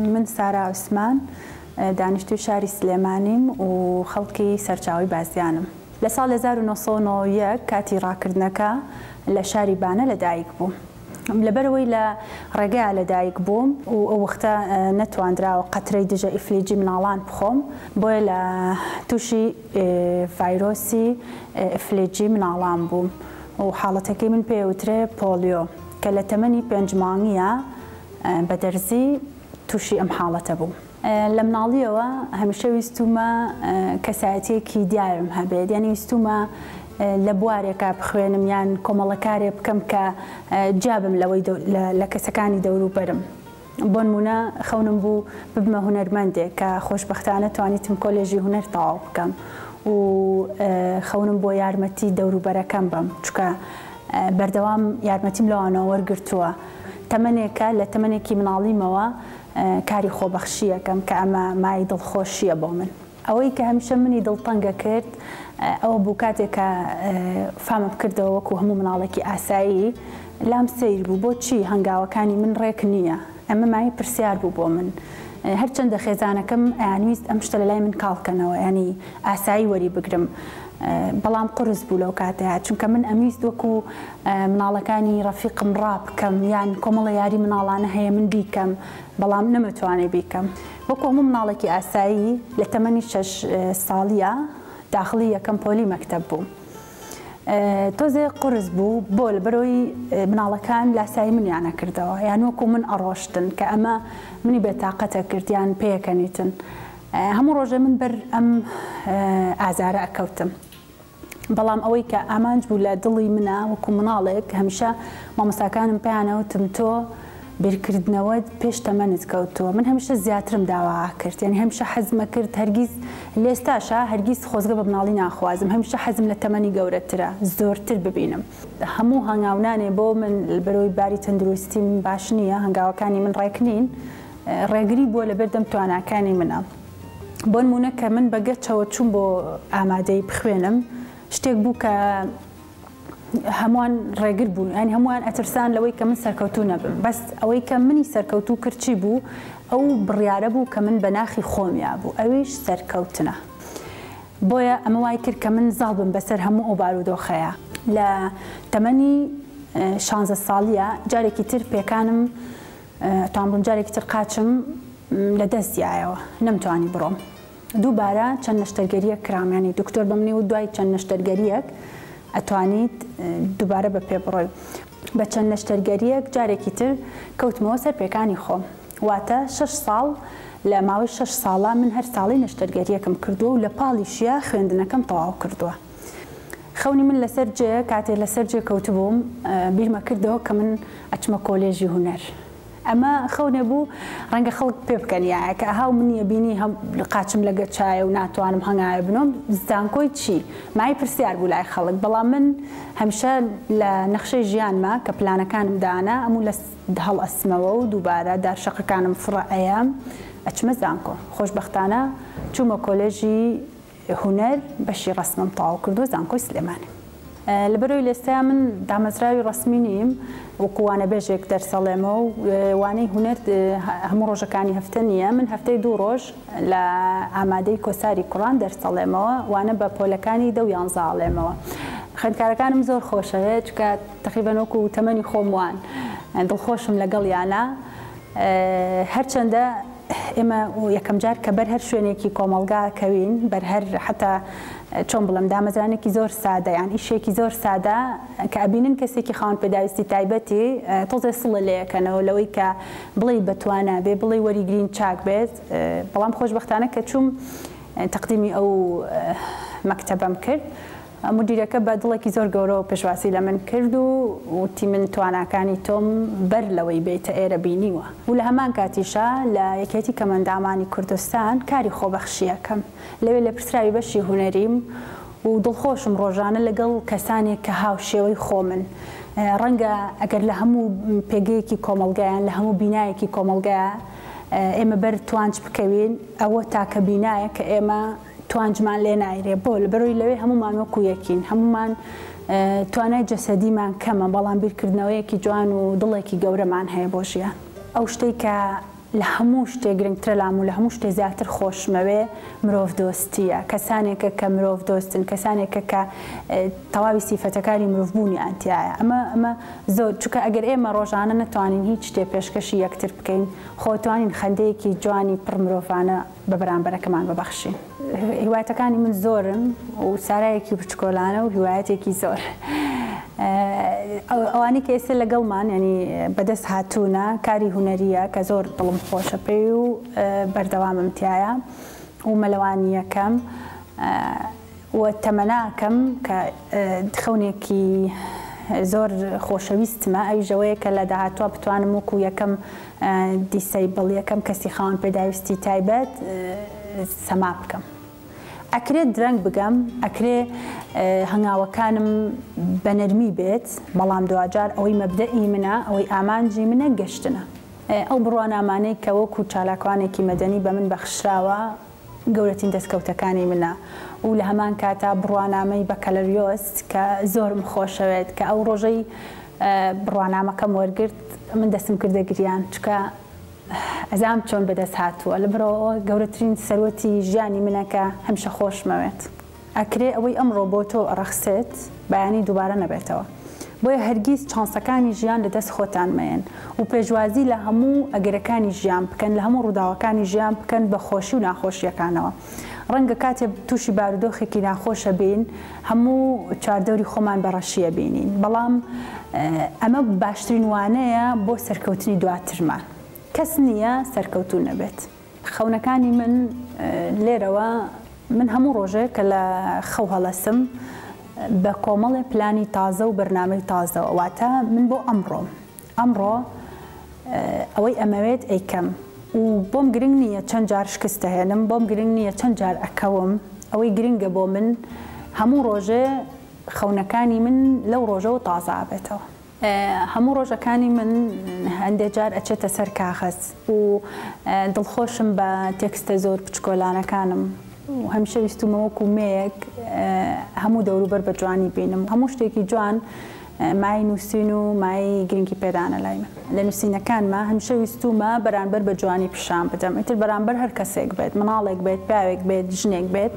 من سارا عوسمان دانیشتوی شاری سلێمانیم و خەڵکی سەرچاوی بازیانم. لە ساڵ هەزار و نۆ سەد و نۆ و یەک کاتی ڕاکردنەکە لە شاری بانە لەدایک بووم. لەبەرئەوەی لە ڕێگەیا لەدایک بووم و ئەو وەختە نەتواندراوە قەترەی دژە ئیفلیجی مناڵان بخۆم بۆیە لە تووشی ڤایرۆسی ئیفلیجی مناڵان بووم و حاڵەتەکەی من پێی ئەوترێ پۆڵیۆ کە لە تەمەنی پێنج مانگیا بە دەرزی تووشی ئەم حاڵەتە بووم. لە مناڵیەوە هەمیشە ویستومە کەسایەتیەکی دیارم هەبێت یانی ویستومە لە بوارێکا بخوێنم یان کۆمەڵەکارێ بکەم کە جیابم لەوەی لە کەسەکانی دەوروبەرم بۆنمونە خەونم بوو ببمە هونەرمەندێک کە خۆشببختانە توانیتم کۆلێژی هونەر تەواو بکەم و خەونم بۆ یارمەتی دەوروبەرەکەم بم چکە بەردەوام یارمەتیم لەوانەوە وەرگرتووە تەمەنێکە لە تەمەنێکی مناڵیمەوە کاری خۆبەخشییەکەم کە ئەمە مایەی دڵخۆشییە بۆ من. ئەوەی کە هەمیشە منی دڵتەنگ ئەکرد ئەوە بوو کاتێک کە فامم کردەوە وەکوو هەموو مناڵێکی ئاسایی لام سەیر بوو بۆچی هەنگاوەکانی من ڕێک نییە؟ ئەمە مایەی پرسیار بوو بۆ من. هەرچەندە خێزانەکەم ئەیانویست ئەم شتە لە لای من کاڵ کەنەوە یانی ئاسایی وەری بگرم بەڵام قورس بوو لەو کاتەیا چونکە من ئەمویست وەکوو مناڵەکانی ڕەفیقم ڕابکەم یان کۆمەڵە یاری مناڵانە هەیە من بیکەم بەڵام نەمەتوانێ بیکەم وەکو هەموو مناڵێکی ئاسایی لە تەمەنی شەش ساڵیە داخڵی یەکەم پۆلی مەکتەب بووم تۆزێ قرس بوو بۆ لە بەرۆی مناڵەکان لاسایی منیانە کردەوە یان وەکو من ئەڕۆشتن کە ئەمە منی بێتاقەتە کردیان پێەکەنیتن هەموو ڕۆژێ من بەر ئەم ئازارە ئەکەوتم بەڵام ئەوەی کە ئامانج بوو لە دڵی منا وەکو مناڵێک هەمیشە مامۆستاکانم پێیانەوتم تۆ بیرکردنەوەت پێش تەمەنت کەوتووە من هەمیشە زیاترم داوا ئەکرد یانی هەمیشە حەزمەکرد هەرگیز لێستاشە هەرگیز خۆزگە بە مناڵی ناخوازم هەمیشە حەزم لە تەمەنی گەورەترە زۆرتر ببینم هەموو هەنگاونانێ بۆ من بەرەوەی باری تەندروستیم باش نییە هەنگاوەکانی من ڕێک نین ڕێگری بووە لەبەردەم تواناکانی منە. بۆنمونە کە من بەگەچەوە چوم بۆ ئامادەی بخوێنم شتێک بوو کە هەمووان ڕێگر بوون ئەنی یعنی هەمووان ئەترسان لەوەی کە من سەرکەوتو نەبم بەس ئەوەی کە منی سەرکەوتو کرچی بوو ئەو بڕیاە بوو کە من بە ناخی خۆمیا بوو ئەویش سەرکەوتنە بۆیە ئەمە وای کرد کە من زاڵ بم بەسەر هەموو ئەو بارودۆخەیە لە تەمەنی شانزە ساڵیە جارێکی تر پێکانم تامبووم جارێکی تر قاچم لە دەست دیایەوە نەمتوانی بڕۆم دووبارە چەند نەشتەرگەریەک کرام ینی دکتۆر بەمنی و دوای چەند نەشتەرگەریەک ئەتوانیت دووبارە بە پێ بڕۆی بە چەند نەشتەرگەریەک جارێکی تر کەوتمەوە سەر پێکانی خۆم واتە شش ساڵ لە ماوەی شش ساڵە من هەر ساڵی نەشتەرگەریەکم کردووە و لە پاڵیشیە خوێندنەکەم تەواو کردووە. خەونی من لەسەر جێ کاتێ لەسەر جێ کەوتبووم بیرمە کردەوە کە من ئەچمە کۆلێژی هونەر ئەمە خەونێ بوو ڕەنگە خەڵک پێ بکەن یاە کە ئەهاو منیە بینی هەم قاچم لە گەچایە و ناتوانم هەنگاوێ بنۆم زانکۆی چی مای پرسیار بوو لای خەڵک بەڵام من هەمیشە لە نەخشەی ژیانمە کە پلانەکانم دانا ئەموو لە هەڵئەستمەوە و دووبارە دار شەقەکانم فڕئەیەم ئەچمە زانکۆ خۆشبەختانە چوومە کۆلێژی هونەر بەشی ڕەسمم تەواو کردووە زانکۆی سلێمانی. لە بەرەوی لێستەیا من دامەزراوی ڕەسمی نیم وەکو وانەبێژێک دەرس ئەڵێمە و وانەی هونەر هەموو ڕۆژەکانی هەفتە نییە من هەفتەی دوو ڕۆژ لە ئامادەی کۆساری کوڕان دەرس ئەڵێمەوە وانە بە پۆلەکانی دە و یانزە ئەڵێمەوە خوێندکارەکانم زۆر خۆشەوێت چونکە تەقریبەن وەکو تەمەنی خۆم وان دڵخۆشم لەگەڵیانا. هەرچەندە ئێمە یەکەم جار کە بەر هەر شوێنێکی کۆمەڵگا کەوین بەر هەر حتا چۆن بڵم دامەزرانێکی زۆر سادە یان ئیشێکی زۆر سادە کە ئەبینن کەسێکی خاون پێداویستی تایبەتی تۆزێ سڵە لەیەکەنەوە لەوەی کە بڵی بەتوانا بێ بڵی وەریگرین چاک بێت بەڵام خۆشببختانە کە چوم تقدیمی ئەو مەکتتەبەم کرد مودیرەکە بە دڵێکی زۆر گەورەوە پێشوازی لە من کرد و وتی من تواناکانی تۆم بەر لەوەی بێیتە ئێرە بینیوە و لە هەمان کاتیشا لە یەکێتی کەمەندامانی کوردستان کاری خۆبەخشی ئەکەم. لەوێ لێپرسراوی بەشی هونەریم و دڵخۆشم ڕۆژانە لەگەڵ کەسانێک کە هاوشێوەی خۆمن. ڕەنگە ئەگەر لە هەموو پێگەیەکی کۆمەڵگا یان لە هەموو بینایەکی کۆمەڵگا ئێمە بەر توانج بکەوین، ئەوە تاکە بینایە کە ئێمە، توانجمان لێ نایرێ بۆ لەبەرۆی لەوێ هەمومان وەکو یەکین هەمومان توانای جەسەدیمان کەمە بەڵام بیرکردنەوەیەکی جوان و دڵێکی گەورەمان هەیە بۆ ژیان ئەو شتەی کە لە هەموو شتێ گرنگترە لام و لە هەموو شتێ زیاتر خۆشمەوێ مرۆڤ دۆستیە کەسانێکە کە مرۆڤ دۆستن کەسانێکە کە تەواوی سیفەتەکانی مرۆڤبوونی ئەتیایە ئەمە ئەمە زۆر چکە ئەگەر ئێمە ڕۆژانە نتوانین هیچ شتێ پێشکەشی یەکتر بکەین خۆتوانین خەندەیەکی جوانی پڕ مرۆڤانە بە بەرامبەرەکەمان ببەخشین. هیوایەتەکانی من زۆرن و سارایەکی بچکۆلانە و هیوایەتێکی زۆر. ئەوانی کە ئێستا لەگەڵمان ینی بەدەست هاتوونە کاری هوەریە کە زۆر دڵم خۆشە پێی و بەردەوامم تایە و مەلەوانیەکەم. و تەمەنا کەم کە خەونێکی زۆر خۆشەویستمە ئەویش ئەوەیە کە لە داهاتوا بتوانم وەکو یەکەم دیسەیبڵ یەکەم کەسی خاوەن پێداویستی تایبەت سەما بکەم ئەکرێت درەنگ بگەم ئەکرێ هەنگاوەکانم بە نەرمی بێت بەڵام دواجار ئەوەی مەبدەئی منە ئەوەی ئامانجی منە گەشتنە ئەو بڕوانامانەی کە وەکو چالاکوانێکی مەدەنی بە من بەخشراوە گەورەترین دەستکەوتەکانی منە و لە هەمان کاتا بڕوانامەی بەکالریۆس کە زۆرم خۆشەوێت کە ئەو ڕۆژەی بڕوانامەکەم وەرگرت من دەستم کردە گریان چونکە ئەزانم چۆن بەدەست هاتووە لەبەرئەوە گەورەترین سەروەتی ژیانی منە کە هەمیشە خۆشمەوێت. ئەکرێ ئەوەی ئەمڕۆ بۆ تۆ ڕەخسێت بەیانی دووبارە نەبێتەوە بۆیە هەرگیز چانسەکانی ژیان لە دەست خۆتان مەیەن و پێشوازی لە هەموو ئەگەرەکانی ژیان بکەن لە هەموو ڕووداوەکانی ژیان بکەن بە خۆشی و ناخۆشیەکانەوە ڕەنگە کاتێ تووشی بارودۆخێکی ناخۆش ئەبین هەموو چواردەوری خۆمان بە ڕەشی ئەبینین بەڵام ئەمە باشترین وانەیە بۆ سەرکەوتنی دواترمان کەس نییە سەرکەوتوو نەبێت. خەونەکانی من لێرەوە من هەموو ڕۆژێک کە لە خەو هەڵەسم بە کۆمەڵێ پلانی تازە و بەرنامەی تازەوە واتە من بۆ ئەمڕۆم ئەمڕۆ ئەوەی ئەمەوێت ئەیکەم و بۆم گرنگ نییە چەند جار شکستە هێنم بۆم گرنگ نییە چەند جار ئەکەوم ئەوەی گرنگە بۆ من هەموو ڕۆژێ خەونەکانی من لەو ڕۆژەوە تازابێتەوە. هەموو ڕۆژەکانی من هەندێ جار ئەچێتە سەر کاغەز و دڵخۆشم بە تێکستە زۆر بچکۆلانەکانم و هەمیشە ویستومە وەکو مێیەک هەموو دەوروبەر بە جوانی بینم هەموو شتێکی جوان مای نووسین و مای گرنگی پێدانە لای من لە نووسینەکانمە هەمیشە ویستومە بەرانبەر بە جوانی پیشان بدەم ئیتر بەرانبەر هەر کەسێک بێت مناڵێک بێت پیاوێک بێت ژنێک بێت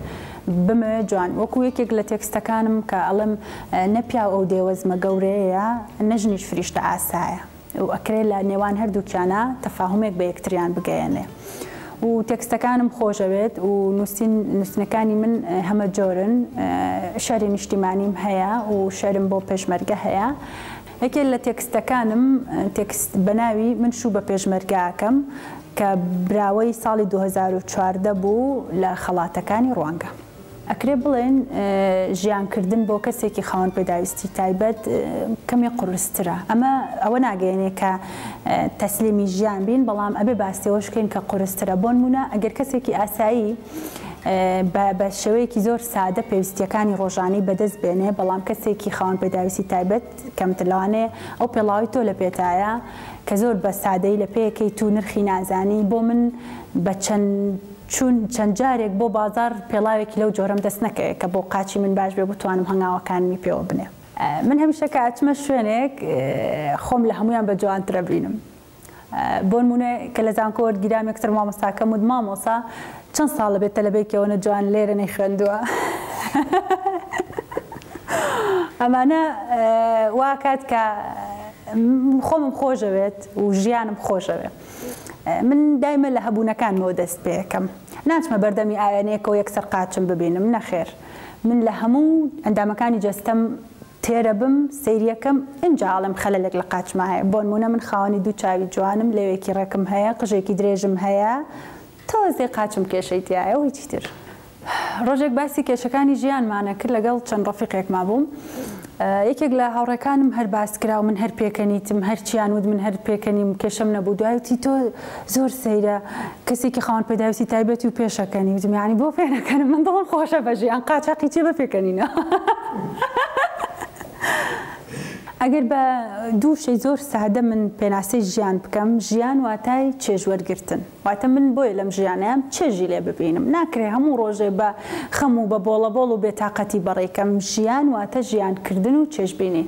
بمەوێ جوان وەکو یەکێک لە تێکستەکانم کە ئەڵێم نە پیاو ئەو دێوەزمە گەورەیەیە نە ژنیش فریشتە ئاسایە و ئەکرێ لە نێوان هەردووکیانا تەفاهومێک بە یەکتریان بگەیەنێ و تێکستەکانم خۆشەوێت و نووسین نووسنەکانی من هەمە جۆرن شەری نیشتیمانیم هەیە و شەرم بۆ پێشمەرگە هەیە یەکێ لە تێکستەکانم تێکست بە ناوی من شوو بە پێشمەرگاکەم کە براوەی ساڵی دوو هەزار و چواردە بوو لە خەڵاتەکانی ڕوانگە. ئەکرێ بڵێن ژیانکردن بۆ کەسێکی خاوەن پێداویستی تایبەت کەمێ قورسترە. ئەمە ئەوە ناگەیەنێ کە تەسلیمی ژیان بین بەڵام ئەبێ باسی ئەوەش بکەین کە قورسترە. بۆنموونە ئەگەر کەسێکی ئاسایی. بە بە شێوەیەکی زۆر سادە پێویستییەکانی ڕۆژانەی بەدەست بێنێ، بەڵام کەسێکی خاوەن پێداویستی تایبەت کەمتر لەوانەیە ئەو پێڵاوەی تۆ لە پێتایە کە زۆر بە سادەیی لە پێیەکەیت و نرخی نازانی، بۆ من بە چەند چوون چەند جارێک بۆ بازاڕ پێڵاوێکی لەو جۆرەم دەست نەکەوێ کە بۆ قاچی من باش بێ بتوانم هەنگاوەکانمی پێوە بنێم. من هەمیشە کە ئەچمە شوێنێک خۆم لە هەموویان بە جوانترە بینم. بۆنمونە کە لە زانکۆ وەرگیرام یەکسەر مامۆستاکەم وت مامۆسا چەند ساڵە بێ تەلەبەیەکی ئەوەنە جوان لێرە نەیخوێندووە ئەمانە واکات کە خۆمم خۆشەوێت و ژیانم خۆشەوێت من دایمە لە هەبوونەکانمەوە دەست پێەکەم ناچمە بەردەمی ئاوێنەیەکەوە یەکسەر قاچم ببینم نەخێر من لە هەموو ئەندامەکانی جەستەم تێرە بم سەیریەکەم ئینجا ئەڵێم خەلەلێک لە قاچما هەیە بۆنمونە من خاوەنی دوو چاوی جوانم لێوێکی ڕێکم هەیە قژێکی درێژم هەیە تۆزێ قاچم کێشەی تیایە و هیچی تر. ڕۆژێک باسی کێشەکانی ژیانمانە کرد لەگەڵ چەند ڕەفیقێکما بووم یەکێک لە هاوڕێکانم هەر باس کرا و من هەر پێکەنیتم هەرچیان وت من هەر پێکەنیم کێشەم نەبوو دوای وتی تۆ زۆر سەیرە کەسێکی خاوەن پێداویستی تایبەتی و پێشەکەنی وتم یعنی بۆ پێنەکەنم من دڵم خۆشە بەژێ ئەن قاچاقی چێ بە پێکەنینە ئەگەر بە دوو شەی زۆر سادە من پێناسەی ژیان بکەم ژیان واتای چێژوەرگتن واتە من بۆیە لەم ژیانەیەم چێژی لێ ببینم ناکرێ هەموو ڕۆژێ بە خەم و بە بۆڵە بۆڵ و بێتاقەتی بەڕێکەم ژیان واتە ژیانکردن و چێژبینین.